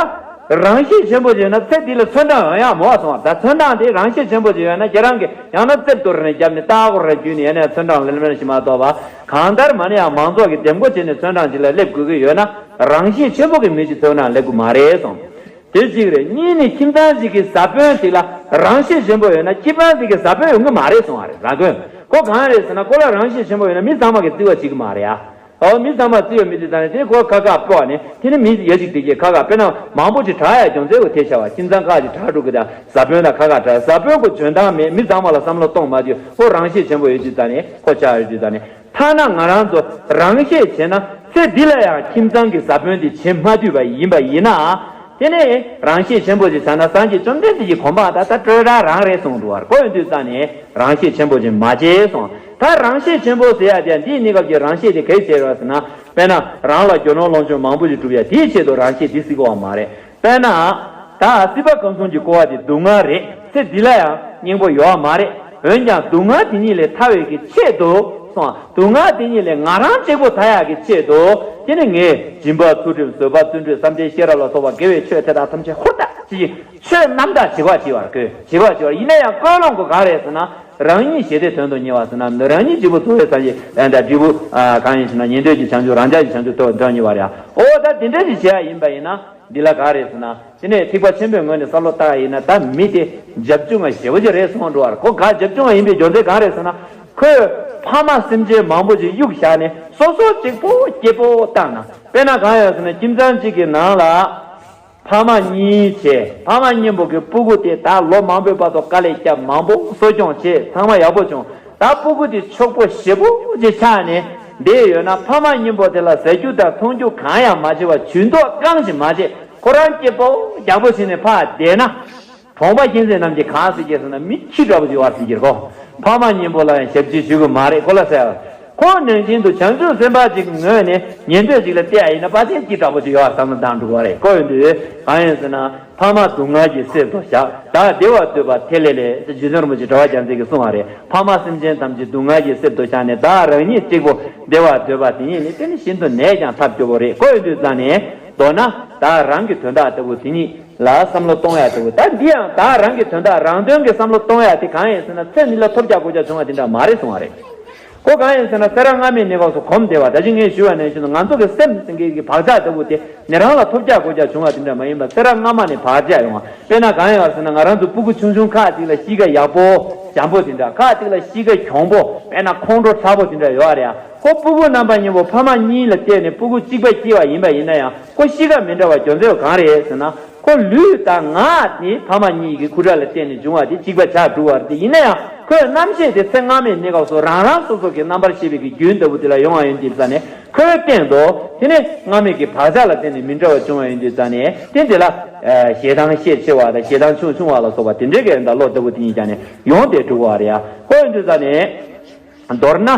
རང་བཞིན་ཆེན་པོ་ཡོད་ན་ཚེ་འདི་ལ་ཚོན་གྲངས་ཡང་ཡང་མང་བ་སོང་བ་ད་ཚོན་གྲངས་དེ་རང་བཞིན་ཆེན་པོ་ཡོད་ན་ཁྱེད་རང་གིས་ཡང་ན་རྩིབས་དོར་ནས་རྒྱབ་ནས་ལྟ་ཨ་ཁོ་ར་བརྒྱུད་ནས་ཡན་ནས་ཚོན་གྲངས་ལེར་མེར་ཞིག་མ་གཏོགས་པ་གང་ལྟར་མ་ནི་ཡང་མང་ཚོགས་ཀྱིས་འདེམས་བསྐོ་བྱས་ནས་ཚོན་གྲངས་ཅིག་ལ་སླེབས་དགོས་ཀྱི་ཡོད་ན་རང་བཞིན་ཆེན་པོ་གི་མི་ཞིག་ཚོན་གྲངས་ལེན་དགོས་མ་རེད་སོང་དེ་གཅིག་རེད་གཉིས་ནི་ཁྱིམ་ཚང་གཅིག་གི་བཟའ་དཔོན་དེ་ལ་རང་བཞིན་ཆེན་པོ་ཡོད་ན་ཁྱི་པང་དེ་གི་བཟའ་དཔོན་ཡོང་གི་མ་རེད་སོང་བ་རེད་ར་དགོས་མཁོ་གང་རེད་ཟེར་ན་ཀོ་ལ་རང་བཞིན་ཆེན་པོ་ཡོད་ན་མི་ཚང་མ་གི་བརྩི་བ་བྱེད་ཀྱི་མ་རེད་ཨ། ཨའོ་མི་ཚང་མ་བརྩི་ཡོད་མི་བརྩི་ཚང་ཡོད་དེ་སྐོར་ཁ་ཁ་སྤོ་བ་ནི་དེ་ནི་མི་ཡ་གཅིག་བདེ་སྐྱིད་ཁ་ཁ་སྤེ་ན་མང་པོ་ཅིག་གྲགས་ཡ་གྱོང་ཚད་གོ་ཐེ་ཤ་བ་ཁྱིམ་ཚང་ཁག་ཅིག་གྲགས་འགྲོ་གི་དང་བཟའ་དཔོན་དང་ཁ་ཁ་གྲགས་བཟའ་དཔོན་གོ་འཇོན་ཐང་མེད་མི་ཚང་མ་ལ་བསམ་བློ་གཏོང་མ་དུས་ཁོ་རང་ཤེད་ཆེན་པོ་ཡོད་དུས་ད་ནི་ཁོ་ཆགས་ཡོད་དུས་ད་ནི་ཐ་ན་ང་རང་ཚོ་རང་ཤེད་བྱེད་ན་ཚེ་འདི་ལ་ཡང་ཁྱིམ་ཚང་གི་བཟའ་དཔོན་དེ་བྱེད་མ་དུས་པ་ཡིན་པ་ཡིན་ན་དེ་ནི་རང་ཤེད་ཆེན་པོ་ཅིག་བྱ་ན་སངས་རྒྱས་བཅོམ་ལྡན་འདས་ཀྱི་གོ་འཕང་ད་ད་སྤྲོས་བྲལ་རང་རེད་གསུང་འདུག་བར་གོ་ཡོད་དུས་ད་ནི་རང་ཤེད་ཆེན་པོ་ཅིག་མ་བྱེད་གསུང། མཐར་རང་ཤེས་ཆེན་པོ་ཟེར་ཡ་དེ་འདིའི་གནས་སྐབས་ཀྱི་རང་ཤེས་དེ་གལ་ཆེ་རེད་བ་ཟེར་ན། དཔེར་ན། རང་ལ་རྒྱུ་ནོར་ལོངས་སྤྱོད་མང་པོ་ཞིག་གྲུབ་ཡ་དེའི་ཆེད་དུ་རང་ཤེས་འདི་སྲིད་གོ་བ་མ་རེད། དཔེར་ན། ད་སྲིད་པ་གང་མཚུངས་ཀྱི་གོ་བ་དེ་སྡུག་བསྔལ་རེད། ཚེ་འདི་ལ་ཡང་སྙིང་པོ་ཡོད་བ་མ་རེད། འོན་ཀྱང་སྡུག་བསྔལ་དེ་ཉིད་ལས་ཐར་བའི་གི་ཆེད་དུ། སོང་བ། སྡུག་བསྔལ་དེ་ཉིད་ལས་ང་རང་གཅིག་པུ་ཐར་ཡག་གི་ཆེད་དུ། དེ་ནི་ངའི། སྦྱིན་པ་ཚུལ་ཁྲིམས་བཟོད་པ་བརྩོན་འགྲུས་བསམ་གཏན་ཤེས་རབ་ལ་སོགས་པ་དགེ་བའི་ཆོས་དེ་དག་ཐམས་ཅད་ཧུར་ཐག་བྱེད་ཀྱི། ཆོས་རྣམ་དག་བྱེད་པར་བགྱི་བར་བསྐོས། བྱེད་པར་བགྱི་བར་ཡིད་ནས་ཡང་བསྐོས་ལོང་གོ་གང་རེད་ཟེར་ན། རང་ཉིད་ཞེས་དེའི་དོན་དུ་གཉེར་བ་ཟེར་ན་འདིར་རང་ཉིད་བྱེད་པོ་གཙོ་བོའི་ས་བཞི་ལྷའི་འདྲ་དྲིལ་བུ། གང་ཡིན་ཞེ་ན་ཉན་ཐོས་ཀྱི་བྱང་ཆུབ་རང་ཅག་གི་བྱང་ཆུབ་ཐོབ་འདྲ་གཉིས་པ་རེད་ཨ། ཨོ་ད་དེ་འདྲ་ཞིག་བྱེད་ཡ་ཡིན་པ་ཡིན་ན། འདི་ལ་ག་རེད་ཟེར་ན། དེ་ནས་ཐིགས་པ་ཆེན་པོའི་ངོས་ནས་ས་ལོ་ལྟ་ཡིན་ན་ད་མི་སྟེ། རྒྱབ་ཆུང་ང་ཞེ་བོ་ཅིག་རེ་སོང་འགྲོ་བར་གོ་ག་རྒྱབ་ཆུང་ང་ཡིན་པའི་རྒྱོ་མཚན་གང་རེད་ཟེར་ན། ཁོས། ཕ་མ་སེམས་ཅན་མང་པོ་ཅིག་གཡུག་བཞག་ནས་སོ་སོ་གཅིག་པོ་སྐྱེས་པོ་བཏང་ན་དཔེ་ན་གང་ཡོད་ཟེར་ན་ཁྱིམ་ཚང་གཅིག་གི་ནང་ལ། ཕ་མ་གཉིས་བྱས། ཕ་མ་གཉེན་པོ་གི་སྤུ་གུ་དེ་ད་ལོ་མང་པོའི་བར་དུ་དཀའ་ལས་སྐྱབས་མང་པོ་གསོ་སྐྱོང་བྱས་ཚང་མ་ཡག་པོ་བྱུང་ད་སྤུ་གུ་དེ་འཁྱོག་པོ་ཞེ་པོ་ཅིག་ཆགས་ནས་བསྡད་ཡོད་ན་ཕ་མ་གཉེན་པོ་དེ་ལ་ཟ་རྒྱུ་དང་འཐུང་རྒྱུ་གང་ཡང་མ་བྱེད་པར་ཇུས་འདོགས་རྐང་ཞིག་མ་བྱེད་ཁོ་རང་སྐྱིད་པོ་རྒྱག་པོ་བྱས་ནས་ཕ་བསྡད་ན། བོང་བ་གཤིན་རྗེ་རྣམས་ཀྱིས་གང་ཟེར་གྱིས་ཟེར་ན་མི་ཁྱི་འདྲ་བོ་ཞིག་བར་ཟིན་གྱིས་ཁོ་ཕ་མ་གཉིས་པོ་ལ་ཡང་ཞབས་ཕྱི་ཞུ་གི་མ་རེད་ཁོ་ལ་ཟེར། ཁོང་ནན་ཅིན་དུ་བྱང་ཆུབ་སེམས་དཔའ་ཅིག་ངོས་ནས་ཉན་འདོད་ཅིག་ལ་བལྟས་ཨ་ཡིན་ན་པ་ཆེན་ཁྱི་འདྲ་བོ་ཞིག་ཡོད་བསམ་ན་འདང་འགྲོ་གི་རེད་ཁོ་ཡོང་དུས་གང་ཡོད་ཟེར་ན་ཕ་མ་སྡུག་བསྔལ་གྱིས་བསད་དོ་ཞག་བདག་བདེ་བར་སྡོད་པ་དེ་ལས་ལས་ཅེས་ཇི་བཞིན་རིན་པོ་ཆེ་གྲྭ་བ་རྒྱ་མཚན་གྱིས་གསུངས་བ་རེད་ཕ་མ་སེམས་ཅན་ཐམས་ཅད་སྡུག་བསྔལ་གྱིས་བསད་དོ་ཞག་ནས་བདག་རང་ཉིད་གཅིག་པོ་བདེ་བར་སྡོད་པ་དེ་ཉིད་ནི་དེ་ནི་ཤིན་ཏུ་ནས་ཀྱང་ཐབས་སྐྱོ་བོ་རེད་ཁོ་ཡོང་དུས་རྩ་ནས། མདོར་ན་བདག་རང་གི་དོན་དག་ལྟ་བུ་དེ་ཉིད་ལ་བསམ་བློ་གཏོང་ཡ་ལྟ་བུ་ད་འདི་ཡང་བདག་རང་གི་དོན་དག་རང་དོན་གྱི་བསམ་བློ་གཏོང་ཡ་དེ་གང་ཡིན་ཟེར་ན་ཚེ་འདི་ལ་ཐོབ་བརྒྱག་སྒོ་བརྒྱག་བྱུང་བ་དེ་འདྲ་མ་རེད་གསུང་བ་རེད་གོ་གང་ཡིན་ཟེར་ན་སེ་ར་སྔ་མའི་གནས་བབས་སུ་གོམས་བདེ་བ་ད་ཅི་ངས་ཞུས་བ་ནས་བཞིན་དུ་ང་ཚོ་གི་སེམས་སེང་གེ་གི་བག་ཆགས་ལྟ་བུ་དེ་ནི་རང་ལ་ཐོབ་བརྒྱག་སྒོ་བརྒྱག་བྱུང་བ་དེ་འདྲ་མ་ཡིན་པར་སེ་ར་སྔ་མ་ནས་བག་ཆགས་ཡོང་བ་དཔེར་ན་གང་ཡིན་བ་ཟེར་ན་ང་རང་ཚོ་སྤུ་གུ་ཆུང་ཆུང་ཁག་ཅིག་ལ་གཤིས་ཀ་ཡག་པོ་འཇམ་པོ་དེ་འདྲ་ཁག་ཅིག་ལ་གཤིས་ཀ་གྱོང་པོ་དཔེར་ན་ཁོང་ཁྲོ་ཁྲ་པོ་དེ་འདྲ་ཡོད་རེད་ཨ། ཁོ་སྤུ་གུ་རྣམ་པ་གཉིས་པོ་ཕ་མ་གཉིས་ལ་བརྟེན་ནས་སྤུ་གུ་གཅིག་པ་སྐྱེས་པ་ཡིན་པ་ཡིན་ན་ཡང་ཁོ་གཤིས་ཀ་མི་འདྲ་བ་གྱོན་ཚོད་གང་རེད་ཟེར་ན་ཁོ་ལུས་དང་ངག་དེ་ཕ་མ་གཉིས་ཀྱི་ཁུ་ཁྲག་ལ་བརྟེན་ནས་བྱུང་བ་དེ་གཅིག་པ་ཆགས་འགྲོ་བར་དེ་ཡིན་ན་ཡང་ཁོའི་རྣམ་ཤེས་དེ་ཚེ་སྔ་མའི་གནས་སྐབས་སུ་རང་རང་སོ་སོ་གི་རྣམ་པར་ཤེས་པའི་གི་རྒྱུན་ལྟ་བུ་དེ་ལ་ཡོང་བ་ཡིན་དེ་རྩ་ནས་ཁོའི་སྟེང་དུ་དེ་ནི་སྔ་མའི་གི་བག་ཆགས་ལ་བརྟེན་ནས་མི་འདྲ་བ་བྱུང་བ་ཡིན་དེ་རྩ་ནས་དེ་དེ་ལ་ཞེ་སྡང་ཤས་ཆེ་བ་དང་ཞེ་སྡང་ཆུང་ཆུང་བ་ལ་སོགས་པ་དེ་འདྲའི་གི་རིན་དང་བློ་ལྟ་བུ་དེ་གཉིས་ཀྱང་ནས་ཡོང་སྟེ་འགྲོ་བར་ཡང་ཁོ་ཡིན་དེ་རྩ་ནས། མདོར་ན།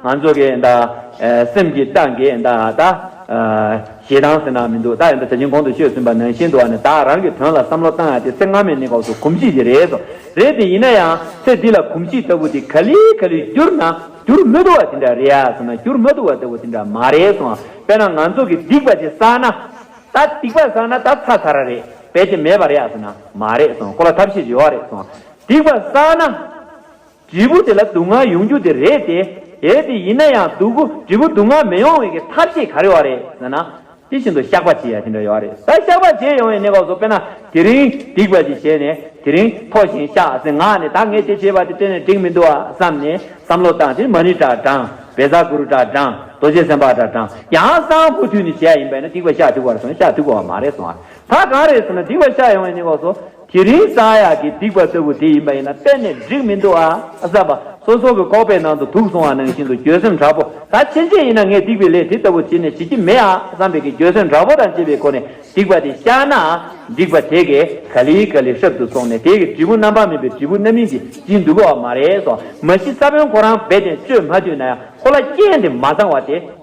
ང་ཚོ་གི་ད། སེམས་ཀྱི་རྟགས་འགའི་ད། ཞེ་སྡང་ཟེར་ན་མི་འདུག་ད་ཡོད་ན་ད་ཕྱིན་གོང་དུ་ཤོད་ཟིན་པ་ནང་བཞིན་དུ་ཨ་ནི་ད་རང་གི་དོན་ལ་བསམ་བློ་བཏང་ཡང་དེ་ཚེ་སྔ་མའི་གནས་སྐབས་སུ་གོམས་གཤིས་དེ་རེད་དོ། རེད་དེ་ཡིན་ན་ཡང་ཚེ་འདི་ལ་གོམས་གཤིས་ལྟ་བུ་དེ་ག་ལེ་ག་ལེ་བསྒྱུར་ན་བསྒྱུར་མི་བདོ་བ་དེ་འདྲ་རེད་ཡ་ཟེར་ན་བསྒྱུར་མ་བདོ་བ་ལྟ་བུ་དེ་འདྲ་མ་རེད་སོང་དཔེར་ན་ང་ཚོ་གི་སྡིག་པ་དེ་བསགས་ན་ད་སྡིག་པ་བསགས་ན་ད་ཚ་ཚ་ར་རེད་བས་དེ་མེད་པ་རེད་ཡ་ཟེར་ན་མ་རེད་སོང་གོ་ལ་ཐབས་ཤེས་བྱེད་ཨོ་རེད་སོང་སྡིག་པ་བསགས་ན། དྲིལ་བུ་དེ་ལ་དུག་ལྔ་ཡོང་རྒྱུ་དེ་རེད་དེ། གལ་ཏེ་ཡིན་ན་ཡང་དུག་གུ་དྲིལ་བུ་དུག་ལྔ་མི་ཡོང་བའི་གི་ཐབས་ཤེས་ག་རེ་བ་རེད་ཟེར་ན། དེ་བཞིན་དུ་བཤགས་པ་བྱེད་ཡ་དེ་འདྲ་ཡོད་རེད་ད་བཤགས་པ་བྱེད་ཡོང་བའི་གནས་བབ་སོགས་དཔེར་ན་དེ་རིང་སྡིག་པ་ཅིག་བྱས་ནས་དེ་རིང་ཐོ་བཞིན་བཤགས་ཟེར་ངག་ནས་ད་ངས་དེ་བྱས་པ་དེ་དེ་ནས་འགྲིག་མི་འདུག་ཨ་བསམ་ནས་བསམ་བློ་བཏང་དེ་མ་ཎི་དྲག་དྲངས་བེ་བཟའ་གུ་རུ་དྲག་དྲངས་རྡོ་རྗེ་སེམས་དཔའ་དྲག་དྲངས་ཡང་གསང་མུ་ཐུད་ནས་བྱས་ཡ་ཡིན་པས་ན་སྡིག་པ་བཤགས་འཐུས་པར་སོང་བས་བཤགས་འཐུས་དགོས་བ་མ་རེད་གསུང་བ་ད་གང་རེད་ཟེར་ན་སྡིག་པ་བཤགས་ཡོང་བའི་གནས་བབ་སོགས། དེ་རིང་ས་ཡ་གི་སྡིག་པ་ལྟ་བུ་དེ་ཡིན་པ་ཡིན་ན་གཏན་ནས་འགྲིག་མི་འདུག་ཨ། བསམ་པ། སོ་སོ་གི་ཁོག་པའི་ནང་དུ་དུག་སོང་བ་ནང་བཞིན་དུ་འགྱོད་སེམས་དྲག་པོ་ད་ཕྱིན་ཆད་ཡིན་ན་ངས་སྡིག་པའི་ལས་དེ་ལྟ་བུ་བྱེད་ནས་བྱེད་ཀྱི་མེད་ཨ་བསམ་པའི་གི་འགྱོད་སེམས་དྲག་པོ་དང་བཅས་པའི་སྒོ་ནས་སྡིག་པ་དེ་བཤགས་ན་འགྲིག་པ་དེ་གས་ག་ལི་ག་ལི་ཧྲབ་ཏུ་སོང་ནས་དེ་གི་འབྲས་བུ་རྣམ་པར་སྨིན་པའི་འབྲས་བུ་རྣམ་སྨིན་དེ་སྦྱིན་འདུག་ག་བ་མ་རེད་སོ་མ་གཞི་ས་བོན་ཁོ་རང་རྦད་དེ་གཅོད་མ་ཐུས་ན་ཡང་ཁོ་ལ་རྐྱེན་དེ་མ་བཟང་བ་དེ།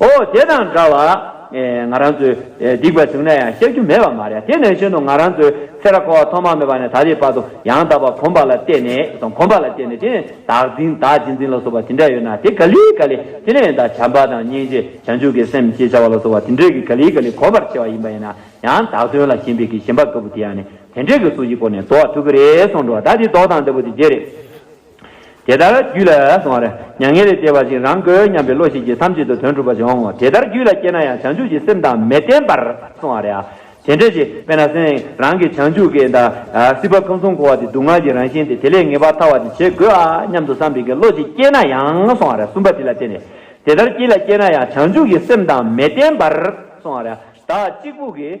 ཨོ་དེ་དང་འདྲ་བར། ང་རང་ཚོས་སྡིག་པ་བྱུང་ན་ཡང་བཤགས་རྒྱུ་མེད་པ་མ་རེད། དེ་ནས་གཞན་དུ་ང་རང་ཚོས་ཚེ་ར་ཁོ་བ་ཐོག་མ་མེད་པ་ནས་ད་རེས་བར་དུ་ཡང་དག་པར་གོམས་པ་ལ་བརྟེན་ནས་དང་གོམས་པ་ལ་བརྟེན་ནས་དེ་ནས་བདག་འཛིན་བདག་གཅེས་འཛིན་ལ་སོགས་པ་དེ་འདྲ་ཡོད་ན་དེ་ག་ལི་ག་ལི་དེ་ལས་འདའ་བྱམས་པ་དང་སྙིང་རྗེ་བྱང་ཆུབ་ཀྱི་སེམས་ཅེས་བྱ་བ་ལ་སོགས་པ་དེ་འདྲས་ཀྱི་ག་ལི་ག་ལི་གོམས་པར་བྱེད་པ་ཡིན་པ་ཡིན་ན་ཡང་དག་དོན་ལ་ཞེན་པའི་གི་ཞེན་པ་དཀར་པོ་དེ་ཡང་ནི་དེ་འདྲས་ཀྱི་གཟུགས་ཀྱི་སྒོ་ནས་བདོག་ཐུག་གི་རེད་གསུངས་འགྲོ་བ་ད་དེ་བདོག་དང་འདི་པོ་དེ་རྗེས་རེད། དེ་ལྟར་རྒྱུད་ལ། མྱ་ངན་ལས་འདས་པ་བཞིན་རང་དགོས་སྙམ་པའི་བློ་ཞིག་གིས་ཐམས་ཅད་དུ་དོན་གྲུབ་པ་ཞིག་འོང་ངོ། དེ་ལྟར་རྒྱུད་ལ་སྐྱེས་ན་ཡང་བྱང་ཆུབ་ཀྱི་སེམས་དང་མི་ལྡན་པར་སོང་བ་རེད། དེ་འདྲ་ཞིག་དཔེར་ན་སེམས་རང་གིས་བྱང་ཆུབ་ཀྱི། སྲིད་པ་ཁམས་གསུམ་འཁོར་བ་དེ་སྡུག་བསྔལ་གྱི་རང་བཞིན་ཏེ་དེ་ལས་ངེས་པར་ཐར་བ་ཅིག་བྱེད་དགོས་ཨ་སྙམ་དུ་བསམ་པའི་གི་བློ་ཞིག་སྐྱེས་ན་ཡང་སོང་བ་རེད་གསུམ་པ་དེ་ལ་བརྟེན་ནས། དེ་ལྟར་རྒྱུད་ལ་སྐྱེས་ན་ཡང་བྱང་ཆུབ་ཀྱི་སེམས་དང་མི་ལྡན་པར་སོང་བ་རེད། བདག་གཅིག་པུ་གིས།